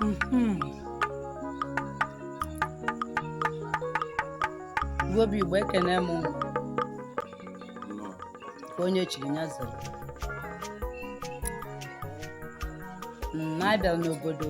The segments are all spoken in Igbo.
Mhm. Igbo bụ Igbo ekene m unu. ka onye chiri ya zere na-abịa n'obodo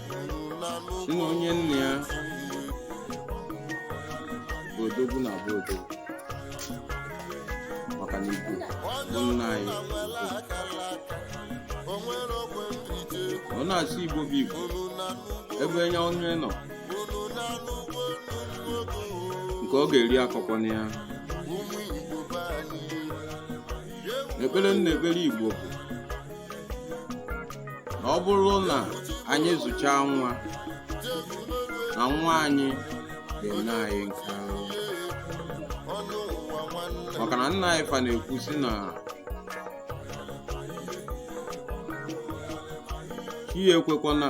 na onye nna ya bụ odogwu na-abụ odogwu maka na igbo bụ nna anyị ọ na-asị igbo bụ igbo ebe onye onye nọ nke ọ ga-eri akọkwana ya ekpere m na-ekpere igbo bụ na ọ bụrụ na anyị zụchaa nwa na nwa anyị ga-enye anyị nke ahụ maka na nna anyị fa na-ekwu sị na chi ekwekwana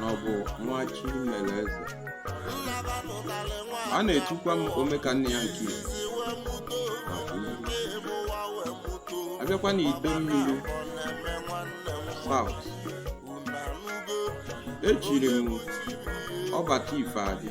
na ọ bụ Nwachimereze a na-etukwa m Omekanneya nke Igbo a bịakwa na Idemmiri South e chiri m Ọbataifeadị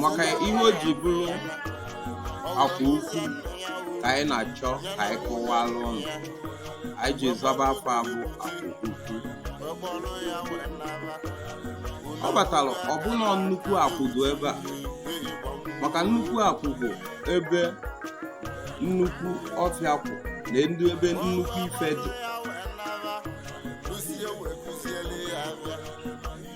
maka ihe o ji bụrụ Akwụ Ukwu ka anyị na-achọ ka anyị kọwalụ ụnụ anyị ji zaba afa a bụ Akwụ Ukwu ọ batara ọ bụ na nnukwu akwụ dị ebe a maka nnukwu akwụ bụ ebe nnukwu ọfịa akwụ na-adị ebe nnukwu ife dị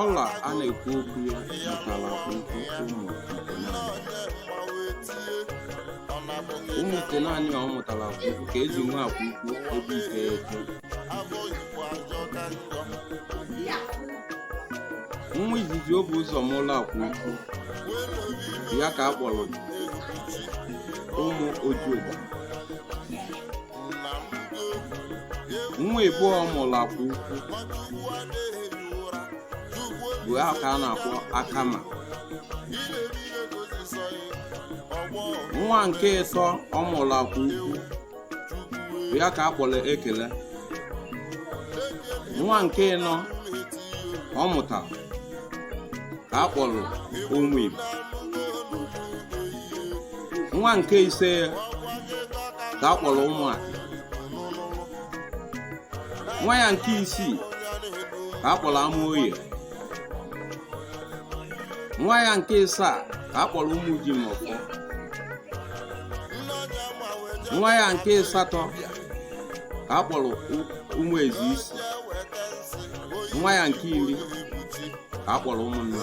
ọla a na-ekwu okwu ya mụtara Akwụ Ukwu ụmụ itenaanị ọ mụtara Akwụ Ukwu ka e ji nwe Akwụ Ukwu ebe iteghete nwa izizi o bu ụzọ mụlụ Akwụ Ukwu ya ka a kpọrọ Ụmụ Ojuoba nwa ịbụọ ọ mụrụ Akwụ Ukwu bụ ya ka a na-akpọ Akama nwa nke ịtọ ọ mụrụ Akwụ Ukwu bụ ya ka a kpọrọ Ekele nwa nke ịnọ ọ mụtara ka a kpọrọ ụmụ igbo nwa nke ise ka a kpọrọ ụmụaka nwa ya nke isii ka a kpọrọ amaoye nwa ya nke ịsaa ka a kpọrọ ụmụjimọfọ nwa ya nke ịsatọ ka a kpọrọ ụmụ ezi isi nwa ya nke iri ka a kpọrọ ụmụnna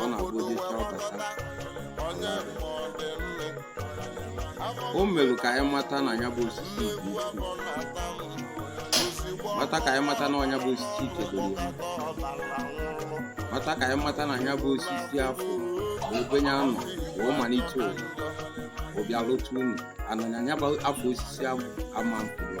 ọ na-abụ ụdị ife abata o mere ka anyị mata na ya bụ osisi dị uchu mata ka anyị mata na nya bụ osisi ikedoro ya mata ka anyị mata na ya bụ osisi afụ bụ ebe ya nọ wee malite ụwa ọ bịa lụta unu ananya ya bụ afọ osisi afụ ama mkpụrụ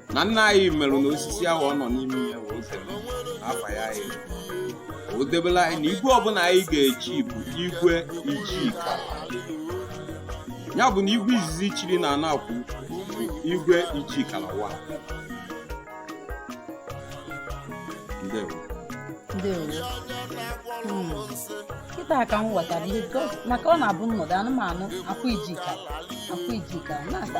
na nna anyị merụ na osisi ahụ ọ nọ n'ime ya wee debe afa ya anyị o debela anyị na igwe ọbụla anyị ga-eji bụ igwe ijika ya bụ na igwe izizi chịrị na anakwu bụ igwe ijikala wa ndewo ndewo Hmm. kịta ka m ghọtara ihe because- maka ọ na-abụ m nọdụ ana m anụ akwa ijika akwa ijika na-asa